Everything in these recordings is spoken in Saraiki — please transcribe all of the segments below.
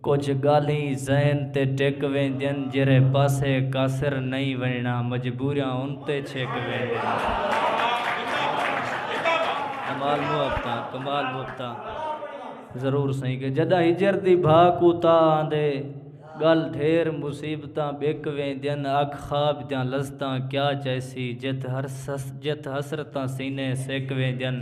کجھ گالھیں ذہن تے ٹک ویندین جیرھے پاسے قاصر نئیں ونجنڑا مجبوریاں انتے چھک ویندین۔ ضرور سئیں کہ جڈاں ہجر دی بھا کوں تا آندے گل ڈھیر مصیبتاں بک ویندین اکھ خواب دیاں لذتاں کیا چائسی جت حسرتاں سینے سک ویندین۔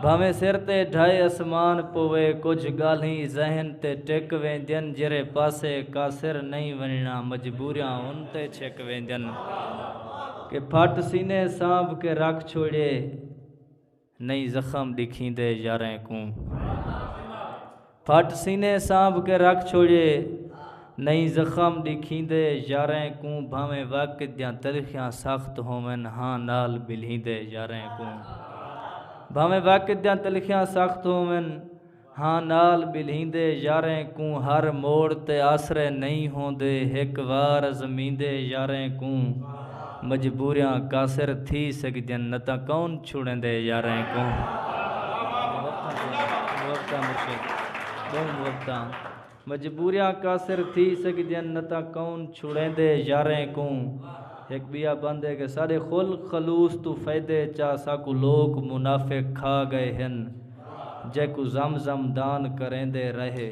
بھانویں سر تے ڈھائے اسمان پووے کجھ گالھیں ذہن تے ٹک ویندین جیرھے پاسے کاسر نئیں ونجنڑاں مجبوریاں ان تے چھک ویندین کہ پھٹ سینے سانبھ کے رکھ چھوڑیے نئیں زخم ڈکھیندے یاریں کوں پھٹ سینے سانبھ کے رکھ چھوڑیے نئیں زخم ڈکھیندے یاریں کوں بھانویں وقت دیاں تلخیاں سخت ہوون ہاں نال بلھیندے یاریں کوں بھانویں وقت دیاں تلخیاں سخت ہوون ہاں نال بلھیندے یاریں کوں ہر موڑ تے آسرے نئیں ہوندے ہک وار ازمیندے یاریں کوں مجبوریاں قاصر تھی سگدین نہ تاں کون چھوڑیندے یاریں کوں۔ ہک بیا بند ہے کہ ساڈے خل خلوص توں فیدے چا ساکوں لوک منافق کھا گئے ہن جیکوں زم زم دان کریندے رہے۔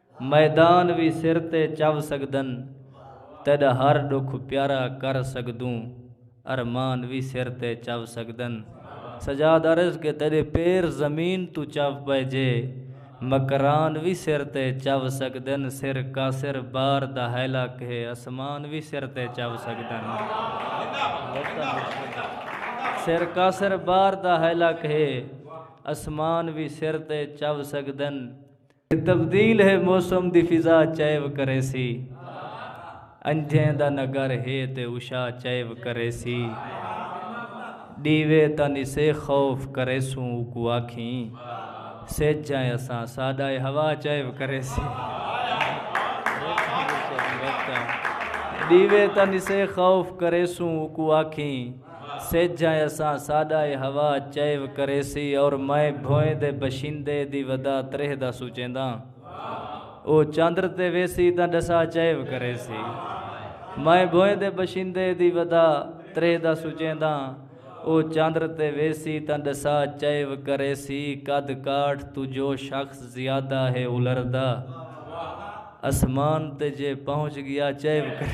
میدان وی سر تے چو سگدن تیڈا ہر ڈکھ پیارا کر سگدوں ارمان وی سر تے چو سگدن سجاد عرض کہ تیڈے پیر زمین توں چو پئے جے مکران وی سر تے چو سگدن سر کاسر بار دا ہیلا کہے اسمان وی سر تے چو سگدن سر کاسر بار دا ہیلا کہے اسمان وی سر تے چو سگدن تے تبدیل ہے موسم دی فضا چیو کریسی انجھیں دا نگر ہے تے عشا چیو کریسی ڈیوے تاں نسے خوف کریسوں اوکوں آکھیں سجھ ائیں اساں ساڈا اے ہوا چیو کریسی ڈیوے تاں نسے خوف کریسوں اوکوں آکھیں سجھ ء اساں ساݙا اے ہوا چئیو کریسی اور میں بھوئیں دے بشیندے دی ودا تریہہ دا سوچینداں او چندر تے ویسی تاں ݙسا چئیو کریسی میں بھوئیں دے بشیندے دی ودا تریہہ دا سوچینداں او چندر تے ویسی تاں ݙسا چئیو کریسی قد کاٹھ توں جو شخص زیادہ ہے الردا اسمان تے جے پہنچ ڳیا چئیو کریسی۔